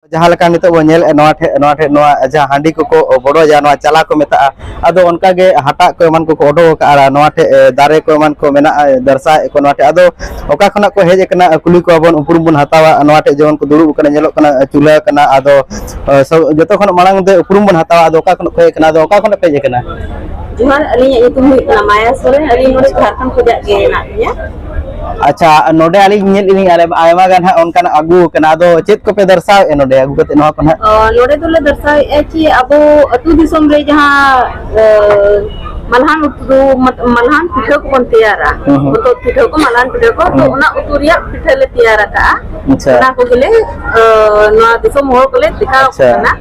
ᱡᱟᱦᱟᱸ ᱞᱮᱠᱟ ᱱᱤᱛᱚᱜ ᱵᱚᱱ ᱧᱮᱞᱮᱫᱼᱟ ᱱᱚᱣᱟ ᱴᱷᱮᱡ ᱱᱚᱣᱟ ᱴᱷᱮᱡ ᱱᱚᱣᱟ ᱡᱟᱦᱟᱸ ᱦᱟᱺᱰᱤ ᱠᱚᱠᱚ ᱵᱚᱰᱚᱡᱟ ᱱᱚᱣᱟ ᱪᱟᱞᱟ ᱠᱚ ᱢᱮᱛᱟᱜᱼᱟ ᱟᱫᱚ ᱚᱱᱠᱟ ᱜᱮ ᱦᱟᱴᱟᱜ ᱠᱚ ᱮᱢᱟᱱ ᱠᱚᱠᱚ ᱚᱰᱚᱠ ᱟᱠᱟᱫᱼᱟ ᱱᱚᱣᱟ ᱴᱷᱮᱡ ᱫᱟᱨᱮ ᱠᱚ ᱮᱢᱟᱱ ᱠᱚ ᱢᱮᱱᱟᱜᱼᱟ ᱫᱟᱨᱥᱟᱭᱮᱫ ᱠᱚ ᱱᱚᱣᱟ ᱴᱷᱮᱡ ᱟᱫᱚ ᱚᱠᱟ ᱠᱷᱚᱱᱟᱜ ᱠᱚ ᱦᱮᱡ ᱟᱠᱟᱱᱟ ᱠᱩᱞᱤ ᱠᱚᱣᱟ ᱵᱚᱱ ᱩᱯᱨᱩᱢ ᱵᱚᱱ ᱦᱟᱛᱟᱣᱟ ᱱᱚᱣᱟ ᱴᱷᱮᱡ ᱡᱮᱢᱚᱱ ᱠᱚ ᱫᱩᱲᱩᱵ ᱟᱠᱟᱱᱟ ᱧᱮᱞᱚᱜ ᱠᱟᱱᱟ ᱪᱩᱞᱦᱟᱹ ᱠᱟᱱᱟ ᱟᱫᱚ ᱡᱚᱛᱚ ᱠᱷᱚᱱ ᱢᱟᱲᱟᱝ ᱛᱮ ᱩᱯᱨᱩᱢ ᱵᱚᱱ ᱦᱟᱛᱟᱣᱟ ᱟᱫᱚ ᱚᱠᱟ ᱠᱷᱚᱱᱟᱜ ᱠᱚ ᱦᱮᱡ ᱟᱠᱟᱱᱟ ᱟᱫᱚ ᱚᱠᱟ ᱠᱷᱚᱱᱟᱜ ᱯᱮ ᱦᱮᱡ ᱟᱠᱟᱱᱟ ᱡᱚᱦᱟᱨ ᱟᱹᱞᱤᱧᱟᱜ ᱧᱩᱛᱩᱢ ᱦᱩᱭᱩᱜ ᱠᱟᱱᱟ ᱢᱟᱭᱟ ᱥᱚᱨᱮᱱ ᱟᱹᱞᱤᱧ ᱱᱚᱰᱮ ᱡᱷᱟᱲᱠᱷᱚᱸᱰ ᱠᱷᱚᱱᱟᱜ ᱜᱮ ᱢᱮᱱᱟᱜ ᱞᱤᱧᱟ ᱟᱪᱪᱷᱟ ᱱᱚᱰᱮ ᱟᱹᱞᱤᱧ ᱧᱮᱞ ᱞᱤᱧ ᱟᱭᱢᱟ ᱜᱟᱱ ᱦᱟᱸᱜ ᱚᱱᱠᱟᱱᱟᱜ ᱟᱹᱜᱩ ᱠᱟᱱᱟ ᱟᱫᱚ ᱪᱮᱫ ᱠᱚᱯᱮ ᱫᱚᱨᱥᱟᱣᱮᱫᱼᱟ ᱱᱚᱰᱮ ᱟᱹᱜᱩ ᱠᱟᱛᱮ ᱱᱚᱣᱟ ᱠᱚ ᱦᱟᱸᱜ ᱱᱚᱰᱮ ᱫᱚᱞᱮ ᱫᱚᱨᱥᱟᱣᱮᱫᱼᱟ ᱠᱤ ᱟᱵᱚ ᱟᱹᱛᱩ ᱫᱤᱥᱚᱢ ᱨᱮ ᱡᱟᱦᱟᱸ ᱢᱟᱞᱦᱟᱱ ᱩᱛᱩ ᱢᱟᱞᱦᱟᱱ ᱯᱤᱴᱷᱟᱹ ᱠᱚᱵᱚᱱ ᱛᱮᱭᱟᱨᱟ ᱩᱛᱩ ᱯᱤᱴᱷᱟᱹ ᱠᱚ ᱢᱟᱞᱦᱟᱱ ᱯᱤᱴᱷᱟᱹ ᱠᱚ ᱛᱚ ᱚᱱᱟ ᱩᱛᱩ ᱨᱮᱭᱟᱜ ᱯᱤᱴᱷᱟᱹ ᱞᱮ ᱛᱮᱭᱟᱨ ᱟᱠᱟᱫᱼᱟ ᱚᱱᱟ ᱠᱚᱜᱮᱞᱮ ᱱᱚᱣᱟ ᱫᱤᱥᱚᱢ ᱦᱚᱲ ᱠᱚᱞᱮ ᱫᱮᱠᱷᱟᱣ ᱟᱠᱚ ᱠᱟᱱᱟ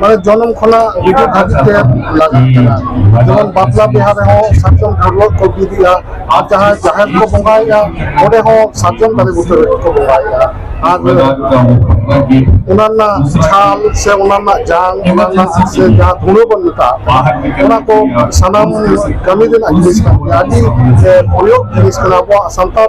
ᱢᱟᱱᱮ ᱡᱚᱱᱚᱢ ᱠᱷᱚᱱᱟᱜ ᱜᱩᱡᱩᱜ ᱫᱷᱟᱹᱵᱤᱡ ᱛᱮ ᱞᱟᱜᱟᱜ ᱠᱟᱱᱟ ᱡᱮᱢᱚᱱ ᱵᱟᱯᱞᱟ ᱵᱤᱦᱟ ᱨᱮᱦᱚᱸ ᱥᱟᱨᱡᱚᱢ ᱰᱷᱟᱹᱨᱣᱟᱹᱜ ᱠᱚ ᱵᱤᱫᱮᱜᱼᱟ ᱟᱨ ᱡᱟᱦᱟᱸ ᱡᱟᱦᱮᱨ ᱠᱚ ᱵᱚᱸᱜᱟᱭᱮᱫᱼᱟ ᱚᱸᱰᱮ ᱦᱚᱸ ᱥᱟᱨᱡᱚᱢ ᱫᱟᱨᱮ ᱵᱩᱴᱟᱹ ᱨᱮᱜᱮ ᱠᱚ ᱵᱚᱸᱜᱟᱭᱮᱫᱼᱟ ᱟᱨ ᱚᱱᱟ ᱨᱮᱱᱟᱜ ᱪᱷᱟᱞ ᱥᱮ ᱚᱱᱟ ᱨᱮᱱᱟᱜ ᱡᱟᱝ ᱚᱱᱟ ᱨᱮᱱᱟᱜ ᱥᱮ ᱡᱟᱦᱟᱸ ᱫᱷᱩᱲᱟᱹ ᱵᱚᱱ ᱢᱮᱛᱟᱜ ᱚᱱᱟ ᱠᱚ ᱥᱟᱱᱟᱢ ᱠᱟᱹᱢᱤ ᱨᱮᱱᱟᱜ ᱡᱤᱱᱤᱥ ᱠᱟᱱ ᱜᱮᱭᱟ ᱟᱹᱰᱤ ᱯᱨᱚᱭᱳᱜᱽ ᱡᱤᱱᱤᱥ ᱠᱟᱱᱟ ᱟᱵᱚᱣᱟᱜ ᱥᱟᱱᱛᱟᱲ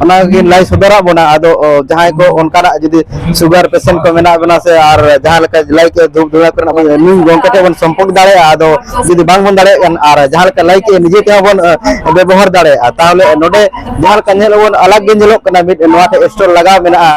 ᱚᱱᱟ ᱜᱮ ᱞᱟᱹᱭ ᱥᱚᱫᱚᱨᱟᱜ ᱵᱚᱱᱟ ᱟᱫᱚ ᱚ, ᱡᱟᱦᱟᱸᱭ ᱠᱚ ᱚᱱᱠᱟᱱᱟᱜ ᱡᱩᱫᱤ ᱥᱩᱜᱟᱨ ᱯᱮᱥᱮᱱᱴ ᱠᱚ ᱢᱮᱱᱟᱜ ᱵᱚᱱᱟ ᱥᱮ ᱟᱨ ᱡᱟᱦᱟᱸ ᱞᱮᱠᱟ ᱞᱟᱹᱭ ᱠᱮᱫ ᱫᱷᱩᱯ ᱫᱷᱩᱲᱟ ᱠᱚᱨᱮᱱᱟᱜ ᱵᱚᱱ ᱱᱩᱭ ᱜᱚᱝᱠᱮ ᱴᱷᱮᱱ ᱵᱚᱱ ᱥᱚᱢᱯᱚᱨᱠ ᱫᱟᱲᱮᱭᱟᱜᱼᱟ ᱟᱫᱚ ᱡᱩᱫᱤ ᱵᱟᱝ ᱵᱚᱱ ᱫᱟᱲᱮᱭᱟᱜ ᱠᱟᱱ ᱟᱨ ᱡᱟᱦᱟᱸ ᱞᱮᱠᱟ ᱞᱟᱹᱭ ᱠᱮᱫ ᱱᱤᱡᱮ ᱛᱮᱦᱚᱸ ᱵᱚᱱ ᱚ, ᱵᱮᱵᱚᱦᱟᱨ ᱫᱟᱲᱮᱭᱟᱜᱼᱟ ᱛᱟᱦᱚᱞᱮ ᱱᱚᱰᱮ ᱡᱟᱦᱟᱸ ᱞᱮᱠᱟ ᱧᱮᱞ ᱟᱵᱚᱱ ᱟᱞᱟᱜᱽ ᱜᱮ ᱧᱮᱞᱚᱜ ᱠᱟᱱᱟ ᱢᱤᱫ ᱱᱚᱣᱟ ᱴᱷᱮᱱ ᱥᱴᱚᱞ ᱞᱟᱜᱟᱣ ᱢᱮᱱᱟᱜᱼᱟ